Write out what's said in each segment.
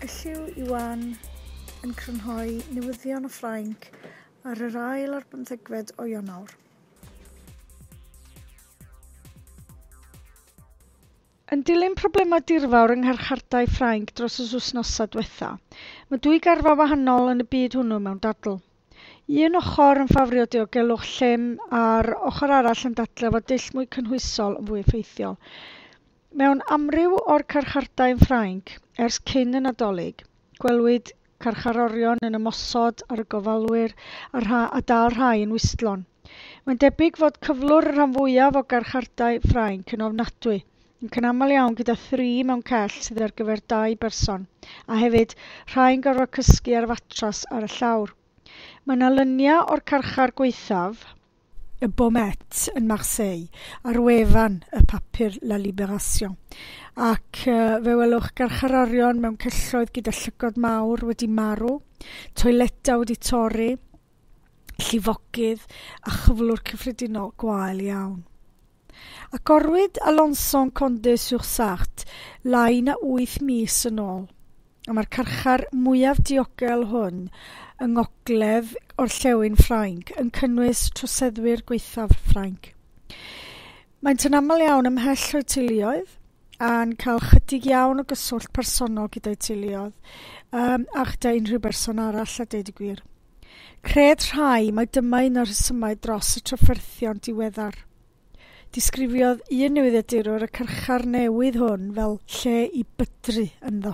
Elliw Iwan yn crynhoi newyddion o Ffrainc ar yr ail ar bymthegfed o Ionawr. Yn dilyn problemau dirfawr yng ngharchardai Ffrainc dros y wythnosau diwetha', mae dwy garfa wahanol yn y byd hwnnw mewn dadl. Un ochr yn ffafrio diogelwch llym a'r ochr arall yn dadlau fod dull mwy cynhwysol yn fwy effeithiol. Mewn amryw o'r carchardai yn Ffrainc, ers cyn y Nadolig, gwelwyd carcharorion yn ymosod ar y gofalwyr a rha- a dal rhai yn wistlon. Mae'n debyg fod cyflwr y rhan fwyaf o garchardai Ffrainc yn ofnadwy, yn cynamal iawn gyda thri mewn cell sydd ar gyfer dau berson, a hefyd, rhai'n gorfod cysgu ar fatras ar y llawr. Mae 'na lunia o'r carchar gwaethaf, y Baumettes yn Marseille, ar wefan y papur La Libération. Ac uh, fe welwch garcharorion mewn celloedd gyda llygod mawr wedi marw, toiledau wedi torri, llifogydd a chyflwr cyffredinol gwael iawn. Agorwyd Alençon Condé-sur-Sarthe lai na wyth mis yn ôl, a mae'r carchar mwyaf diogel hwn yng ngogledd orllewin Ffrainc yn cynnwys troseddwyr gwaethaf Ffrainc. Maent yn aml iawn ymhell o'u teuluoedd, a'n cael chydig iawn o gyswllt personol gyda'u teuluoedd, a chyda unrhyw berson arall, a deud y gwir. Cred rhai mai dyma un o'r rhesymau dros y trafferthion diweddar. Disgrifiodd un newyddiadurwr y cyrchar newydd hwn fel lle i bydru ynddo.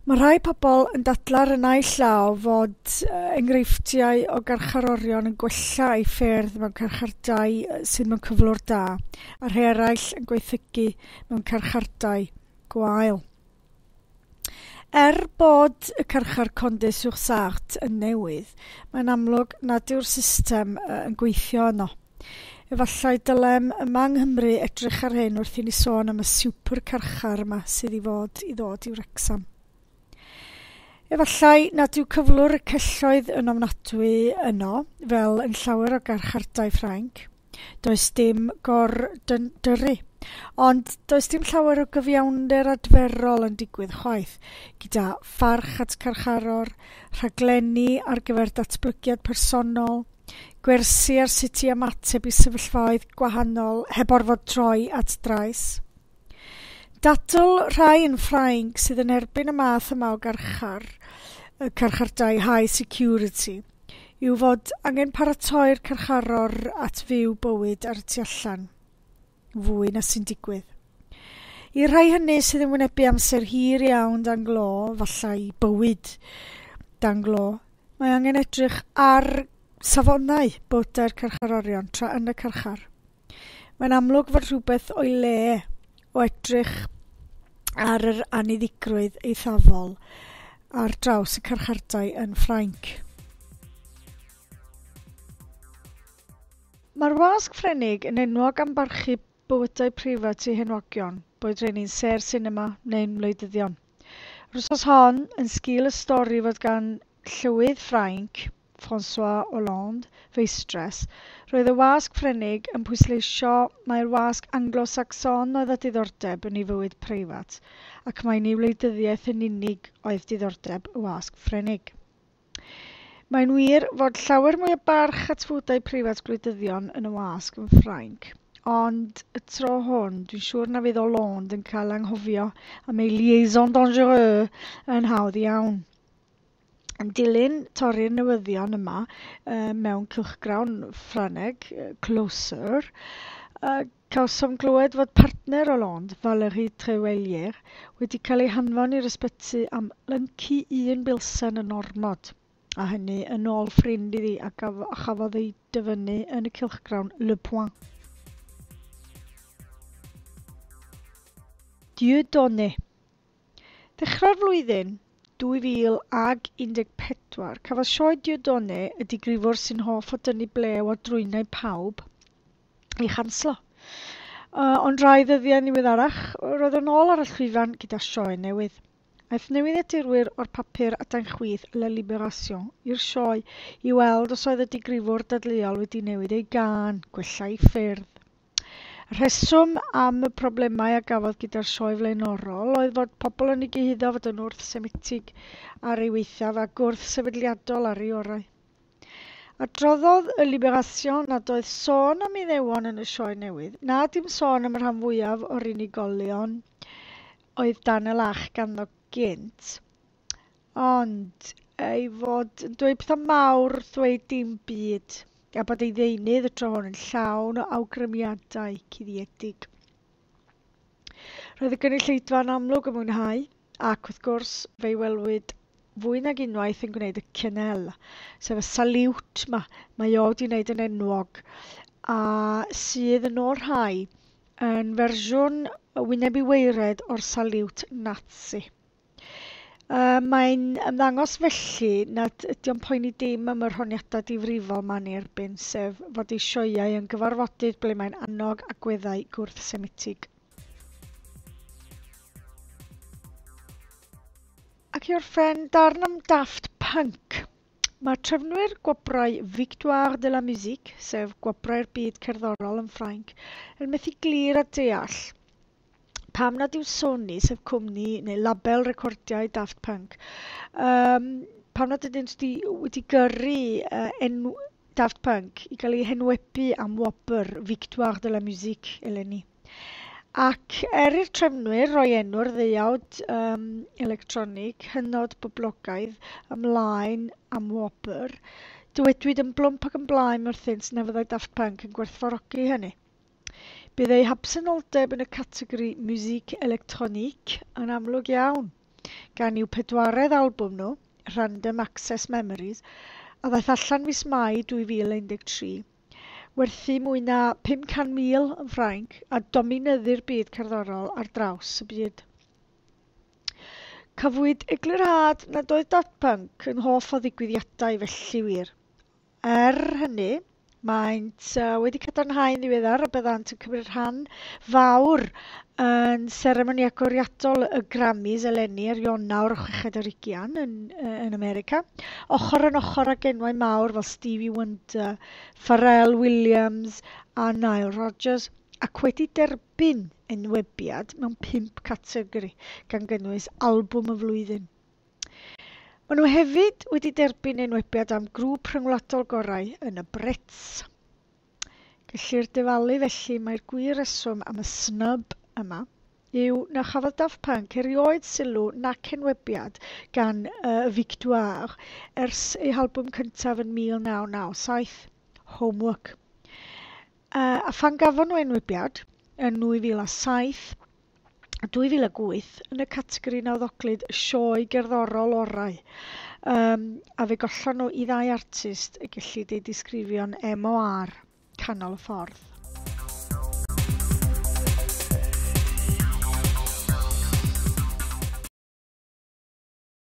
Mae rhai pobl yn dadla'r y naill llaw fod enghreifftiau o garcharorion yn gwella ei ffyrdd mewn carchardai sydd mewn cyflwr da, a rhai eraill yn gweithygu mewn carchardai gwael. Er bod y carchar Condé-sur-Sarthe yn newydd, mae'n amlwg nad yw'r system yn gweithio yno. Efallai dylem yma yng Nghymru edrych ar hyn wrth i ni sôn am y siwpr carchar yma sydd i fod i ddod i Wrecsam. Efallai nad yw cyflwr y celloedd yn ofnadwy yno, fel yn llawer o garchardai Ffrainc, Does dim gor-dyndyru. Ond does dim llawer o gyfiawnder adferol yn digwydd chwaith, gyda pharch at carcharor, rhaglenni ar gyfer datblygiad personol, gwersi ar sut i ymateb i sefyllfaoedd gwahanol heb orfod troi at drais. Dadl rhai yn Ffrainc sydd yn erbyn y math yma o garchar, y carchardai high security, yw fod angen paratoi'r carcharor at fyw bywyd ar y tu allan, fwy na sy'n digwydd. I'r rhai hynny sydd yn wynebu amser hir iawn dan glo, falle i bywyd dan glo, mae angen edrych ar safonau bywydau'r carcharorion tra yn y carchar. Mae'n amlwg fod rhywbeth o'i le o edrych ar yr anniddigrwydd eithafol ar draws y carchardai yn Ffrainc. Mae'r wasg Ffrenig yn enwog am barchu bywydau preifat ei henwogion, boed rheini'n sêr sinema neu'n wleidyddion. Yr wythnos hon, yn sgîl y stori fod gan Llywydd Ffrainc, François Hollande, feistress. Roedd y wasg Frenig yn pwysleisio mai'r wasg Anglo-Sacson oedd â diddordeb yn ei fywyd preifat, ac mai ni wleidyddiaeth yn unig oedd diddordeb y wasg Frenig. Mae'n wir fod llawer mwy o barch at fywydau preifat gwleidyddion yn y wasg yn Ffrainc, ond y tro hwn, dwi'n siŵr na fydd Hollande yn cael anghofio am ei liaison dangereux yn hawdd iawn. Yn dilyn torri'r newyddion yma mewn cylchgrawn Ffrangeg, Closer, cawsom glywed fod partner Hollande, Valérie Treuelier, wedi cael ei hanfon i'r ysbyty am lyncu un bilsen yn ormod, a hynny yn ôl ffrind iddi a chafodd ei dyfynnu yn y cylchgrawn Le Point. Dieudonné. Ddechrau'r flwyddyn 2014, cafodd Sioe Dieudonné, y digrifwr sy'n hoff o dynnu blew ar drwynau pawb, ei chanslo. Ond rai ddyddiau niweddarach, roedd o'n ôl ar y llwyfan gyda sioe newydd. Aeth newyddiadurwyr o'r papur adain chwith La Libération i'r sioe i weld os oedd y digrifwr dadleuol wedi newid ei gân, gwella ei ffyrdd. Rheswm am y problemau a gafodd gyda'r sioe flaenorol oedd fod pobl yn ei gyhuddo fod yn wrth-Semitig ar ei weithaf ac wrth-sefydliadol ar ei orau. Adroddodd y Libération nad oedd sôn am Iddewon yn y sioe newydd, na dim sôn am y rhan fwyaf o'r unigolion oedd dan y lach ganddo gynt. Ond ei fod yn dweud pethau mawr wrth ddweud dim byd, a bod ei ddeunydd y tro hwn yn llawn o awgrymiadau cuddiedig. Roedd y gynulleidfa yn amlwg yn mwynhau, ac wrth gwrs, fe'i welwyd fwy nag unwaith yn gwneud y cynnel, sef y saliwt ma, mae o wedi wneud yn enwog, a sydd yn ôl rhai yn fersiwn wyneb i weired o'r saliwt Nazi. A mae'n ymddangos felly nad ydy'n poeni dim am yr honiadau difrifol ma ni erbyn, sef fod ei sioeau yn gyfarfodydd ble mae'n annog agweddau gwrth-Semitig. Ac i orffen, darn am Daft Punk. Mae trefnwyr gwobrau Victoire de la Musique, sef Gwobrau'r Byd Cerddorol yn Ffrainc, yn methu glir a deall pam nad yw Sony, sef cwmni neu label recordiau Daft Punk, um, pam nad ydyn nhw wedi gyrru uh, enw Daft Punk i gael ei henwebu am wobr Victoire de la Musique eleni. Ac er i'r trefnwyr roi enw'r ddeuawd um, electronig hynod boblogaidd ymlaen am wobr, dywedwyd yn blwmp ac yn blaen wrthynt na fyddai Daft Punk yn gwerthfawrogi hynny. Bydd eu habsenoldeb yn y categori Musique Electronique yn amlwg iawn, gan i'w pedwaredd albwm nhw, Random Access Memories, a ddaeth allan fis Mai 2013, werthu mwy na 500,000 yn Ffrainc a dominyddu'r byd cerddorol ar draws y byd. Cafwyd eglurhad nad oedd Daft Punk yn hoff o ddigwyddiadau felly wir, Er hynny, maent wedi cadarnhau yn ddiweddar y byddant yn cymryd rhan fawr yn seremoni agoriadol y Grammys eleni ar Ionawr 60 ar ugian yn yn America, ochr yn ochr ag enwau mawr fel Stevie Wonder, Pharrell Williams a Nile Rodgers, ac wedi derbyn enwebiad mewn pump categori, gan gynnwys Albwm y Flwyddyn. Maen nhw hefyd wedi derbyn enwebiad am Grŵp Rhyngwladol Gorau yn y Brits. Gellir dyfalu felly mai'r gwir reswm am y snub yma yw na chafodd Daft Punk erioed sylw nac enwebiad gan y Victoire ers eu halbwm cyntaf yn 1997, Homework. A phan gafon nhw enwebiad yn 2007, 2008 yn y categori nawddoglyd sioe gerddorol orau, um, a fe gollon nhw i ddau artist y gellid ei disgrifio'n MOR, canol y ffordd.